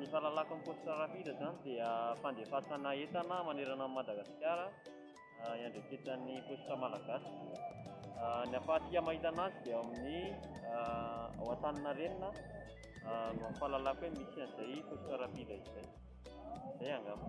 ny fahalalako amin'ny poste rapide izany dia fandefasana entana manerana an'i Madagasikara iandraiketan'ny poste malagasy. Ny ahafahantsika mahita anazy dia amin'ny ao Antaninarenina no fahalalako hoe misy an'izay poste rapide izay. Izay angamba.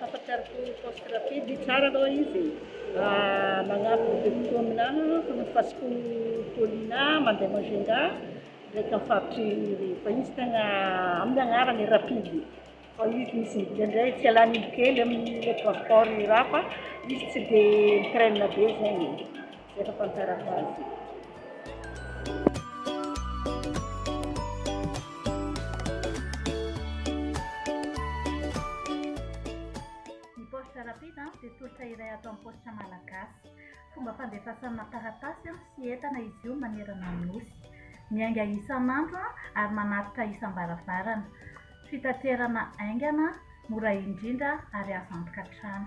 Fampatsiaro koa ny poste rapide, tsara aloha izy e, magnampy ny depiote aminà fanasim-pasim-po Paulina mandeha Majunga ndraiky amin'ny faritry Irery, fa izy tegna amin'ny agnarany i rapide e, fa izy misy miditra indray tsy ialàn'indro kely amin'ny transport io raha fa izy tsy dia mi-traîne be zegny e. Efa tantara faharoa. Ny paositra rapida dia tolotra iray ato amin'ny paositra malagasy. Fomba fandefasana taratasy sy entana izy io manerana ny Nosy. Miainga isan'andro ary manatitra isam-baravarana. Fitaterana haingana, mora indrindra ary azo antoka hatrany.